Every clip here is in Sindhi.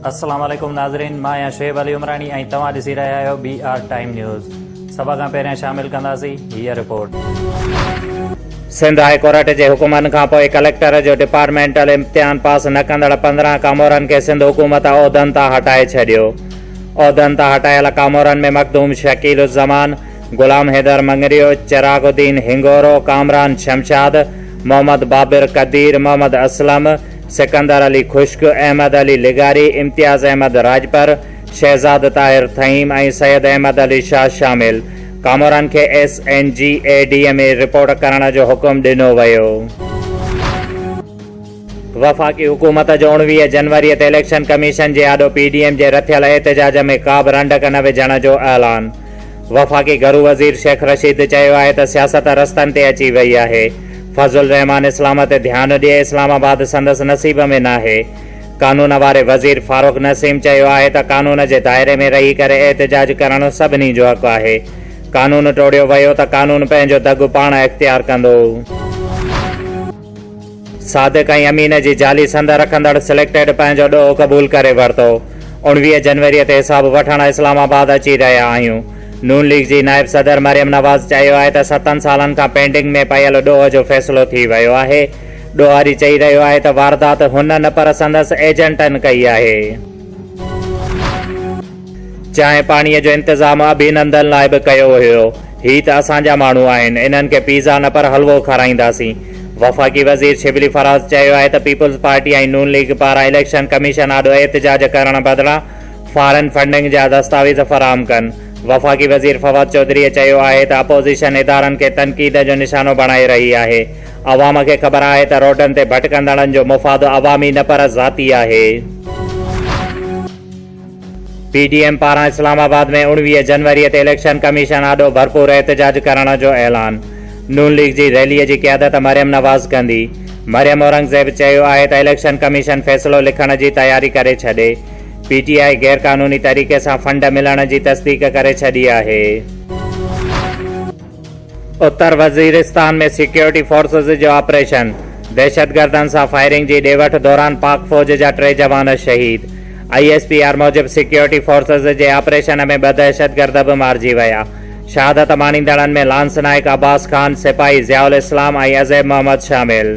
السلام عليڪم ناظرين مان آهيان شعيب علي عمراڻي ۽ توهان ڏسي رهيا آهيو بي آر ٽائيم نيوز سڀ کان پهريان شامل ڪنداسين هي رپورٽ سنڌ هاء ڪورٽ جي حڪمن کان پوء ڪليڪٽر جو ڊپارٽمينٽل امتحان پاس نه ڪندڙ پندرهن ڪامورن کي سنڌ حڪومت عهدن تان هٽائي ڇڏيو عهدن تان هٽايل ڪامورن ۾ مخدوم شڪيل الزمان غلام حيدر مڱريو، چراغ الدين هنڱورو، ڪامران شمشاد، محمد بابر قدير، محمد اسلم، سڪندر علي خشڪ، احمد علي لغاري، امتياز احمد راڄپر، شهزاد طاهر ٿهيم ۽ سيد احمد علي شاهه شامل ڪاموران کي S N G A D ۾ رپورٽ ڪرڻ جو حڪم ڏنو ويو. وفاقي حڪومت جون ويهه جنوري تي اليڪشن ڪميشن جي آڏو پي ڊي ايم جي رٿيل احتجاج ۾ ڪابه رنڊڪ نه وجهڻ جو اعلان وفاقي گهرو وزير شيخ رشيد چيو آهي ته سياست رستن تي اچي وئي آهي فضل الرحمان اسلام تي ڌيان ڏئي اسلام آباد سندس نصيب ۾ ناهي قانون واري وزير فاروق نسيم چيو آهي ته قانون جي دائري ۾ رهي ڪري احتجاج ڪرڻ سڀني جو حق آهي قانون ٽوڙيو ويو ته قانون پنهنجو دڳ پاڻ اختيار ڪندو. صادق ۽ امين جي جعلي سند رکندڙ سليڪٽيڊ پنهنجو ڏوهه قبول ڪري ورتو، اوڻويهه جنوري تي حساب وٺڻ اسلام آباد اچي رهيا آهيون، نون ليگ جي نائب صدر مريم نواز چيو آهي ته ستن سالن کان پينڊنگ ۾ پيل ڏوهه جو فيصلو ٿي ويو آهي، ڏوهاري چئي رهيو آهي ته واردات هن نه پر سندس ايجنٽن ڪئي آهي. چانهه پاڻيء جو انتظام اڀينندن لاء به ڪيو هيو. هي ته اسان جا ماڻهو آهن، انهن کي پيزا نه پر حلوو کارائينداسين. وفاقي وزير شبلي فراز چيو آهي ته پيپلز پارٽي ۽ نون ليگ پاران اليڪشن ڪميشن آڏو احتجاج ڪرڻ بدران فارن فنڊنگ جا دستاويز فراهم ڪن. وفاقي وزير فواد چوڌريء چيو آهي ته اپوزيشن ادارن کي تنقيد جو نشانو بڻائي رهي آهي. عوام کي خبر آهي ته روڊن تي ڀٽڪندڙن جو مفاد عوامي نه پر ذاتي آهي. پي ڊي ايم پاران اسلام آباد ۾ اڻويهه جنوري تي اليڪشن ڪميشن آڏو ڀرپور احتجاج ڪرڻ جو اعلان، نون ليگ جي ريلي جي قيادت مريم نواز ڪندي، مريم اورنگزيب چيو آهي ته اليڪشن ڪميشن فيصلو لکڻ جي تياري ڪري ڇڏي، پي ٽي آء غيرقانوني طريقي سان فنڊ ملڻ جي تصديق ڪري ڇڏي آهي. اتر وزيرستان ۾ سيڪيورٽي فورسز جو آپريشن، دهشتگردن سان فائرنگ جي ڏي وٺ دوران پاڪ فوج جا ٽي جوان شهيد، آء ايس پي آر موجب سيڪيورٽي فورسز جي آپريشن ۾ ٻه دهشتگرد به مارجي ويا، شهادت ماڻيندڙن ۾ لانس نائيڪ عباس خان، سپاهي ضياء الاسلام ۽ عزيب محمد شامل.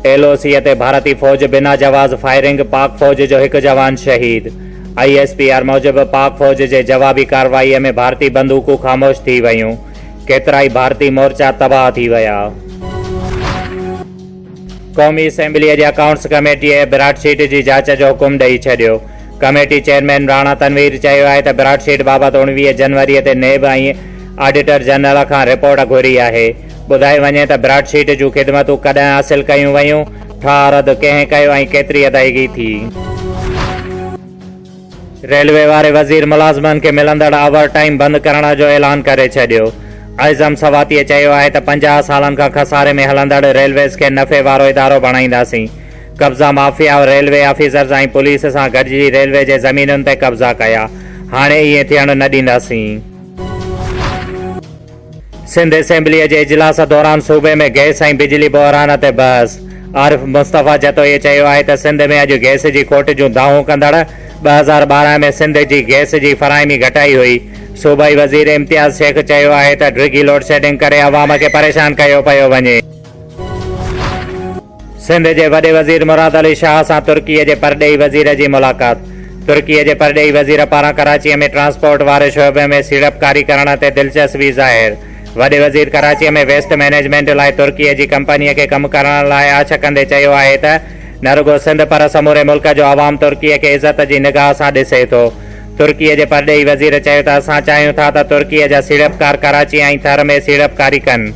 ايل او سيء تي ڀارتي فوج بنا جواز فائرنگ، پاڪ فوج جو هڪ جوان شهيد آء ايس پي آر موجب پاڪ فوج جي جوابي ڪارروائي ۾ ڀارتي بندوقون خاموش ٿي ويون، ڪيترائي ڀارتي مورچا تباهه ٿي ويا. قومي اسيمبليء جي اڪائونٽس ڪميٽيء براڊ شيٽ جي جاچ جو حڪم ڏئي ڇڏيو. ڪميٽي چيئرمين راڻا تنوير چيو آهي ته براڊ شيٽ بابت اڻويهه جنوريء تي نيب ۽ آڊيٽر جنرل کان رپورٽ گهري آهي. ٻڌائي وڃي ته براڊ شيٽ جون خدمتون ڪڏهن حاصل ڪيون ويون، ٺاهه رد ڪنهن ڪيو ۽ ڪيتري ادائيگي ٿي؟ ريلوي واري وزير ملازمن کي ملندڙ آور ٽائيم بند ڪرڻ جو اعلان ڪري ڇڏيو، اعظم سواتيء چيو آهي ته پنجاهه سالن کان خساري ۾ هلندڙ ريلويز کي نفعي وارو ادارو بڻائينداسين، قبضا مافيا ريلوي آفيسرز ۽ پوليس سان گڏجي ريلوي جي زمينن تي قبضا ڪيا، هاڻي ائين ٿيڻ نه ڏينداسين. سنڌ اسيمبليء جي اجلاس دوران صوبي ۾ گئس ۽ بجلي بحران تي بحث، عارف مصطفيٰ جتوئيء چيو آهي ته سنڌ ۾ اڄ گئس جي کوٽ جون دانهون ڪندڙ ٻه هزار ٻارهن ۾ سنڌ جي گئس جي فراهمي گهٽائي هئي، صوبائي وزير امتياز شيخ چيو آهي ته ڊگهي لوڊشيڊنگ ڪري عوام کي پريشان ڪيو پيو وڃي. سنڌ جي وڏي وزير مراد علي شاهه سان ترڪي جي پرڏيهي وزير جي ملاقات، ترڪي جي پرڏيهي وزير پاران ڪراچي ۾ ٽرانسپورٽ واري شعبي ۾ سيڙپڪاري ڪرڻ تي دلچسوي ظاهر، وڏي وزير ڪراچي ۾ ويسٽ مئنيجمينٽ لاء ترڪي جي ڪمپني کي ڪم ڪرڻ لاء آڇ ڪندي چيو آهي ته نه رڳو سنڌ پر سموري ملڪ جو عوام ترڪي کي عزت جي نگاهه سان ڏسي ٿو. ترڪي جي پرڏيهي وزير چيو ته اسان چاهيون ٿا ته ترڪي جا سيڙپڪار ڪراچي ۽ ٿر ۾ سيڙپڪاري ڪن.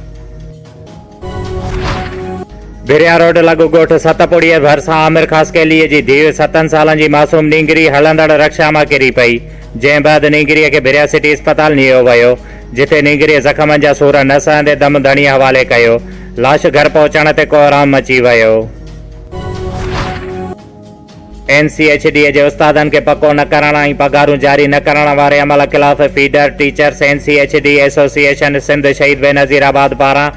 ڀريا روڊ لڳ ڳوٺ ست پوڙهيء ڀرسان عامر خاصخيليء جي ڌيء ستن سالن جي معصوم نينگري هلندڙ رڪشا مان ڪري پئي، جنهن بعد نينگريء کي ڀريا سٽي اسپتال نيو ويو، جتي نينگريء زخمن جا سور نه سهندي دم ڌڻيء حوالي ڪيو. لاش گهر پهچڻ تي ڪوهرام مچي ويو. اين سي ايڇ ڊي جي استادن کي پڪو نه ڪرڻ ۽ پگهارون جاري نه ڪرڻ واري عمل خلاف feeder teachers N C H D association Sindh شهيد بينظير آباد پاران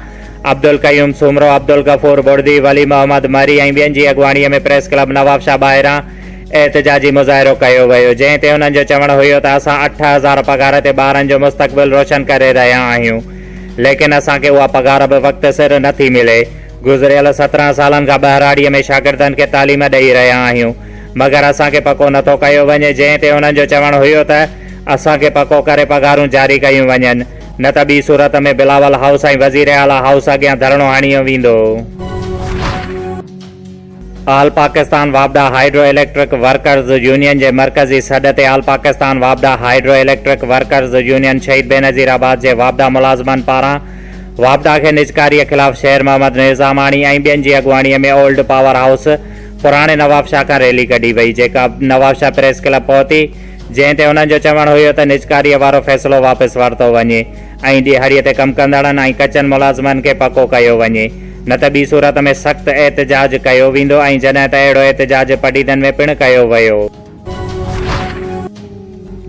عبدالقيوم سومرو، عبدالغفور ٻڙڌي، ولي محمد مھري ۽ ٻين جي اڳواڻيء ۾ پريس ڪلب نوابشاهه ٻاهران احتجاجي مظاهرو ڪيو ويو جنهن تي انهن جو چوڻ هيو ته اسان اٺ هزار پگهار تي ٻارن جو مستقبل روشن ڪري رهيا آهيون ليڪن اسان کي اها پگهار به وقت سر نٿي ملي گذريل سترهن سالن کان ٻهراڙيء ۾ شاگردن کي تعليم ڏئي رهيا آهيون، مگر اسان کي پڪو نٿو ڪيو وڃي، جنهن تي انهن جو چوڻ هيو ته اسان کي پڪو ڪري پگهارون جاري ڪيون وڃن، نه ته ٻي صورت ۾ بلاول هائوس ۽ وزيراعليٰ هائوس اڳيان ڌرڻو هڻيو ويندو. آل پاڪستان واپڊا هائيڊرو اليڪٽرڪ ورڪرز يونين جي مرڪزي سڏ تي آل پاڪستان واپڊا هائيڊرو اليڪٽرڪ ورڪرز يونين شهيد بينظير آباد جي واپڊا ملازمن پاران واپڊا کي نجڪاري خلاف شير محمد نظاماڻي ۽ ٻين جي اڳواڻي ۾ اولڊ پاور هائوس پراڻي نوابشاهه کان ريلي ڪڍي وئي جيڪا نوابشاهه پريس ڪلب پهتي جنهن تي انهن جو چوڻ هيو ته نجڪاري وارو فيصلو واپس ورتو وڃي ۽ ڏيهاڙيء تي ڪم ڪندڙن ۽ ڪچن ملازمن کي پڪو ڪيو وڃي، نه ته ٻي صورت ۾ سخت احتجاج ڪيو ويندو ۽ جڏهن ته اهڙو احتجاج پڊيدن ۾ پڻ ڪيو ويو.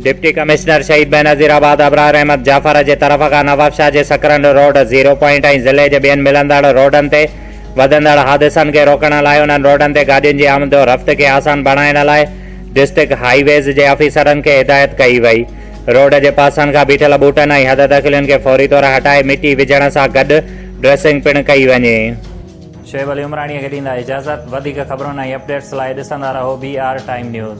ڊپٽي ڪمشنر شهيد بينظير آباد ابرار احمد جعفر جي طرف کان نوابشاهه جي سڪرنڊ روڊ، زيرو پوائنٽ ۽ ضلعي جي ٻين ملندڙ روڊن تي وڌندڙ حادثن کي روڪڻ لاء انهن روڊن تي گاڏين جي آمدورفت کي آسان بڻائڻ لاء ڊسٽرڪٽ هاء ويز جي آفيسرن کي هدايت ڪئي وئي. روڊ جي پاسن کان بيٺل ٻوٽن ۽ حد دخلين کي فوري طور هٽائي مٽي وجهڻ سان گڏ ڊريسنگ پڻ ڪئي وڃي. شعيب علي عمراڻيء کي ڏيندا اجازت. وڌيڪ خبرن ۽ اپڊيٽس لاء ڏسندا رهو بي آر ٽائيم نيوز.